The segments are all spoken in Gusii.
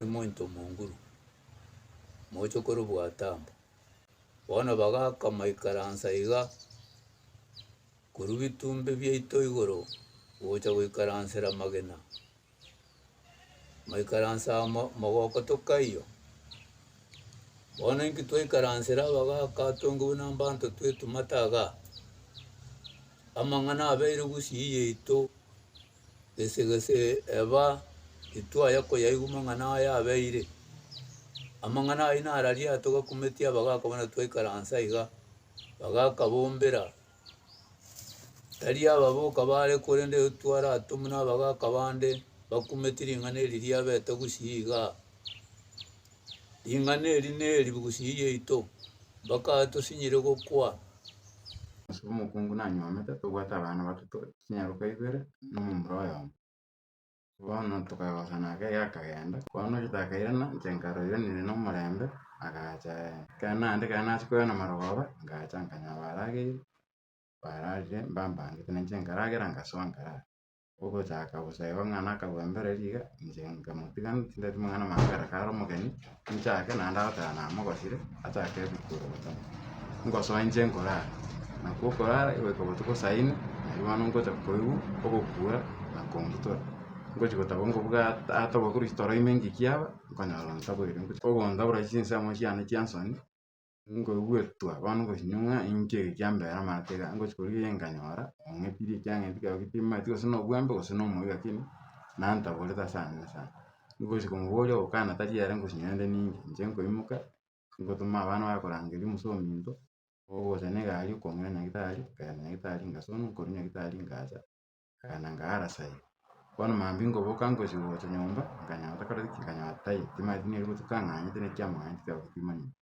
omonto omonguru, mochokoro bwa Tambo. Bono bagaakama ikaransa iga. Korwa bitumbe biaito igoro gocha goikaransera amagena, maikaranse amo mogoko tokaiyo. Bono inki twaikaransera abagaka atongigwe nambanto twetu mataga? Amang'ana abeire gusii yaito gese gese eba titwaya koyaigwa mang'ana aya abeire. Amang'ana ayio nararia atogakumetie abagaka buna twaikaransa iga, abagaka bombera Tari aba boka baare, korende twaraatomwe nabagaaka bande bakumeti ring'ana eri riabete gusii iga. Ring'ana eri neri gusii yaito, mpaka aye tosinyire gokwa. Ase omokungu nanyuomete, tobwate abana batato, chinyaroka ibere, na omomura oyomo. Bono tokagosana ake gakagenda. Bono Rita akairana, inche nkaroiwa nere nomorembe, agacha aye. Ekero naende ekero nachia koirana marogoba, ngacha nkanyora barageire, bararire mbambangete, na inche nkaragera ngasoa nkarara. Ogochaka bosa igo ng'a nakabwembere riga, inche nkamotiga, tindati mang'ana maambera kare omogeni. Nchake naende agoteba namogosire, achake ebuku ogotama. Ngosoa inche nkorara, nakwo okorara goika botuko saa inwe, nario bono ngocha koigwa ogokura na kongitora. Ngochi gotaba ngobuga at- ata obokorwa chitoro ime ngiki aba, nkonyora ontaboire. Ogontabora chinse amo chiane chi'ensoni. Ngoigwetwa bono gosio ng'a inche ege kia mbera amate iga, ngochia korigia iga nkanyora ong'etiri ekiang'entu kiago gete timomanyeti gose na obwembe gose na omoyo gaki ki, na ntaborete ase ang'e sana. Ngochia komoboria ogokana tari ere ngochia nyore nde ninke, inche nkoimoka, ngotoma abana baye korangeria omosee ominto, ogocha na egari okong'ina nyagetari, nkaenda nyagetari ngasonwa, nkorwa nyagetari ngacha. Agakana ngara sairi. Bono mambia ngoboka ngochia gocha nyomba, nkanyora takoreti ki, nkanyora tai, timanyeti nere gotuko ang'anyete naki amang'aneti kero timanyeti.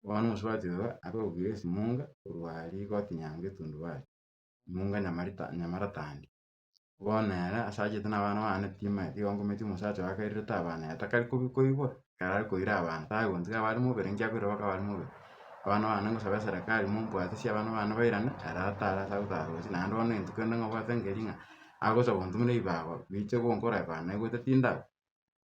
Bono omosubati oyo akarugia esimunga korwa aria egoti nyango etundubari, emunga nyamarita nyamaratandi. Bono ere ase achete nabana bane timanyeti igo ngometie omosacha oyo akairerete abana aye takari kobi koibora, ekero are koira abanto aye gonsi kaba are moberengio akoira baka abare mobere. Abana bane ngosaba eserekari mombwate ase abana bane bairane ere atare ase agotara roche naende bono eng'encho kende ngobwate nkeri ng'a agosa gontu buna ebibago biche gonkora eba naigwete tindaba,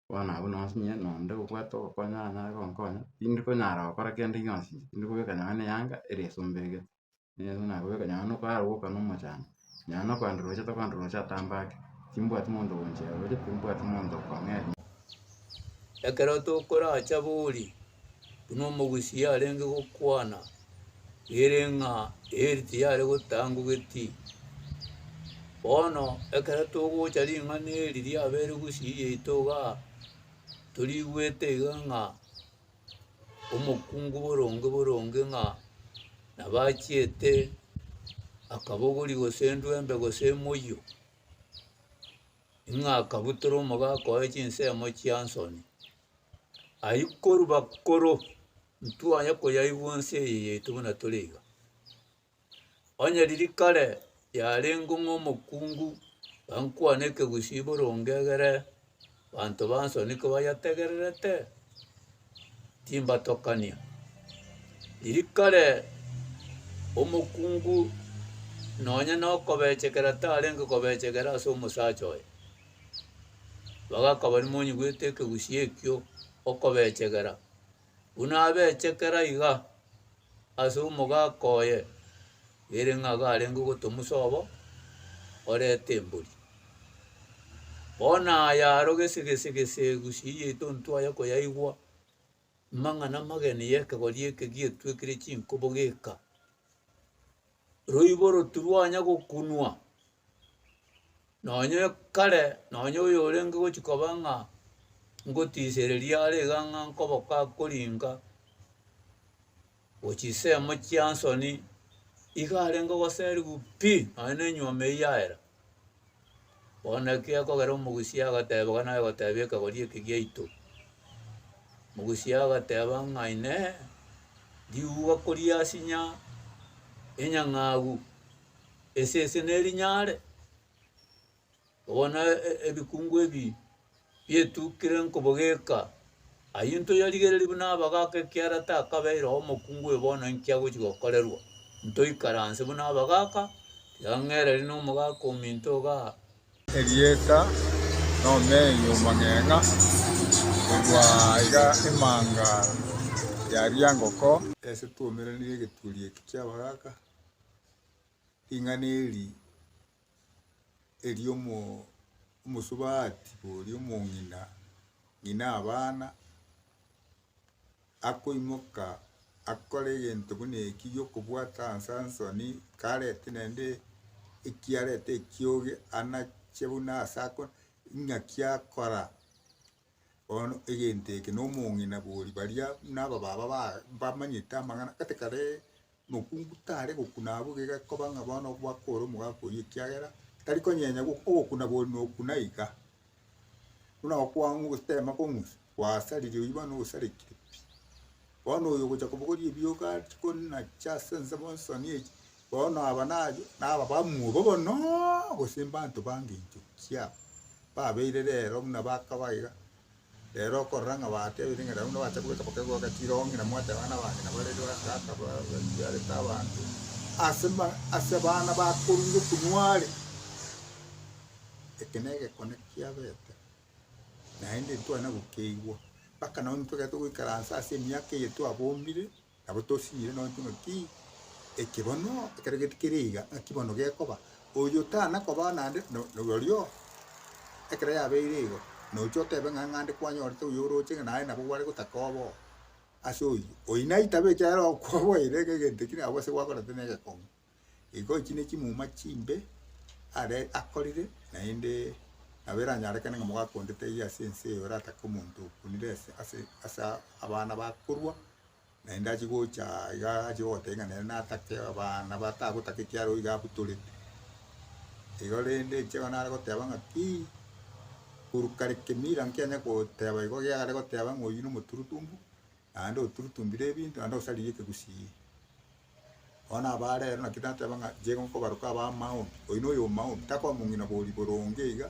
bono abwo nonsi inye na onde obwate ogokonya anyare gonkonya, tindi konyara gokora kende gionsi, tindi kobeka nonye na eyanga ere esomberegete. Yeso nagoteba, Nyara nokwara goka nomochando, nyara nokwanda roche tokwanda roche atambe ake, timbwati monto ogonchera roche, timbwati monto okong'eria. Ekero tokoracha bori, buna omogusi yarenge gokwana ere ng'a eeri tiyare gotangogeti. Bono ekero togocha ring'ana eri riabeire gusii yaito igaa, torigwete iga ng'a omokungu boronge boronge ng'a nabo achiete akabogori gose endwembe gose emoyio, ng'a akabutora omoga akoe chinsemo chia nsoni. Ayio korwa bakoro, intwaya koyaigwa nse eye yaito buna tore iga. Onye riria kare yarengeo ng'a omokungu gankwane ekegusii boronge egere banto ba nsoni kobayetegererete, timbatokania. Riria kare omokungu nonye na okobechekera tarenge kobechekera ase omosacha oye, igo akabani monyegoete ekegusii ekio okobechegera. Buna abechekera iga ase omogaka oye, ere ng'a garenge ogotomusa obo oreta embori. Bono aya aro gese gese gese egusii yaito ntwaye koyaigwa, amang'ana amageni y'ekegori eke gietwekire chinkobo geka. Roibo rotirwanya gokunwa. Nonye kare nonye oyorenge gochia koba ng'a ngotisereria are iga ng'a nkoboka akoringa chisemo chia nsoni iga arenge goseriwa pi nonye na enyuoma eyio yaera bono naki akogera omogusia agateba iga naye ogotebia ekegori eke giaito mogusia agateba ng'a inee riuwa koriasinya enyang'au. Esese nerinyare, bono ebikungu ebi bietukire nkobogeka. Ayio ntoyarigererie buna abagaka ekiara takabeire oo omokungu oyo bono inki agochi gokorerwa. Ntoikaranse buna abagaka, tiga ng'ereri nomogaka ominto igaa. Erieta nomei omong'eng'a, korwa iga emanga yaria ngoko. Ase twoumeranirie egeturi eki ki'abagaka. Ring'ana eri eri'omosubati oria omong'ina, ng'ina abana, akoimoka akore egento buna eki gi'okobwata Sansoni, karete naende ekiareta ekioge anache buna ase ako, ng'aki akora. Bono egento eke na omong'ina bori baria buna aba baba ba- bamanyete amang'ana gete kare mokungu tare gokuna abwo iga egekoba ng'a bono gwakore omogaka oyio ekiagera tari konyenya gwo- ogokuna bori na okuna iga. Buna okwang'u gotema kong'usa gwasariri oyio bono osarigete pi. Bono oyo ogocha kobogoria ebioka achi kona chia ase ense monsoni echi, bono aba naye naba bamwobo monoooo gose mbanto bange inchokia. Babeire rero buna bakaba iga. Rero okorora ng'a batebete ng'a rero buna bacha kobeka paka igo bagachira oo ng'ina mwateba bana bane nabo bareri bagaka ba- batiarete abanto ase ma ase abana bakorure okonwa are. Eke negekone kia bete, naende ntwana gokeigwa, mpaka nao intwe ekero togoikaransa ase emiaka eye twabombire. Nabo tosiire nonya ng'aki eke bono ekero getikeri iga ng'aki bono gekoba, oyo tana koba naende no- no- norio ekero yabeire igo nocha otebe ng'a ng'ande kwanyorete oyo oroche ng'a naye nabo gware gotaka obe oo ase oyio. Oyio naitabe ekiagera okwa oboeire ng'a egento ekio nabo ase gwakorete na egekong'u. Igo echi nechimuma chimbe are akorire, naende nabo eranyarekane ng'a mwakondete eyio ase ense eye oratake omonto okunire ase ase ase abana bakorwa, naende achie gocha iga achie gogotebia ng'a nere natake abana batagotaka ekiagera oiga abutorete. Igo rende inche igo nare goteba ng'a ki, korwa kare kemira nkianye goteba igo kiagera goteba ng'a oyio nomoturutumbu, naende oturutumbire ebinto naende osaririe ekegusii. Bono abaare ere naki nateba ng'a nchire nkobaroke abamaomi, oyi noyo omoaomi, takoba mong'ina bori boronge iga,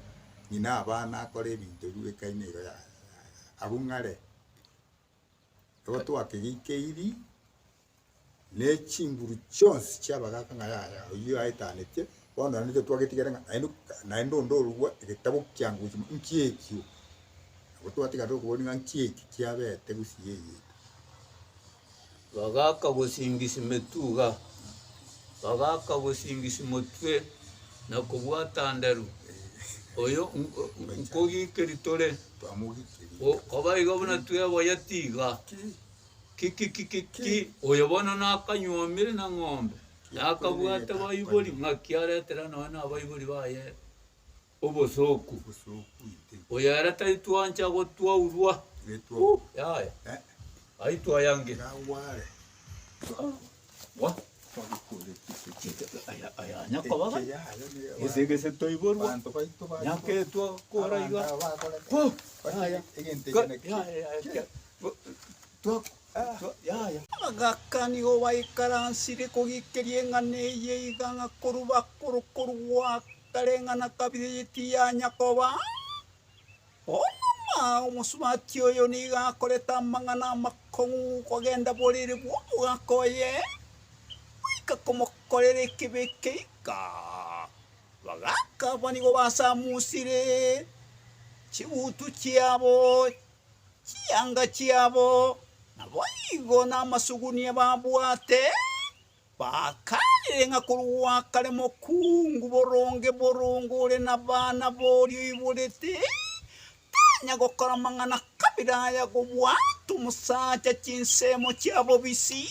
ng'ina abana akore ebinto ebi bweka ime iga yaya yaya, agwo ng'are igo twakegeikeiri na echinguru chionsi chi'abagaka ng'a yaya oyio aetanetie, bono naende nabo twagetigera ng'a naende ka naende onde orua egetabu kia ngochi mo nki ekio, nabo twatiga tokoboria ng'a nki eki kiabete gose yeyete. Bagaaka gosingisi metuga, bagaaka gosingisi motwe na kobwata nderu, oyo nkogikeri tore, koba igo buna tweboya tiga. Kikikikiki, oyo bono nakanyuomire na ng'ombe, nakabwate baibori, ng'aki aretere nonya nabaibori baye. Obosooku. Oyo ere taitwancha gotwaurwa, yaya, aitwayange. Abagakani obaikaransire kogikeria eng'ana eye iga ng'a korwa bakoro korwa Kareng'ana kabiri eye tiyanya koba onomwa. Omosubati oyo nigo akorete amang'ana amakong'u kogenda borere bw'omogaka oye, goika komokorera ekibe keika. Abagaka abwo nigo basamusire chigutu chiabo, chianga chiabo, naboigo namasugunia babwate. Bakaanire ng'a korwa kare mokungu boronge boronge ore nabana boria oiborete, tanya gokora amang'ana kabere aya gobwate omosacha chinsemo chia bobisi.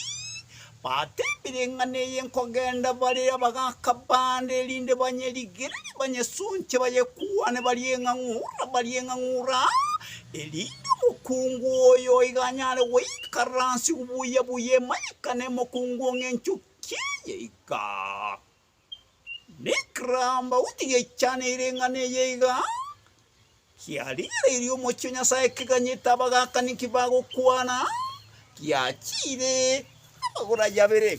Batebire ng'a neye nkogenda bare abagaka bande erinde banyerigerere banyesonche bayekwane barie ng'a ng'ura barie ng'a ng'ura, erinde omokungu oyo oiganyare goikaransigwa buya buya emanyekane emokungu ng'a enchoki eye iga nekerambauni geichaneire eng'ana eye iga, kiarigereirie omochie o Nyasaye keganyete abagakani ki bagokwana, giachiire abagora yabere.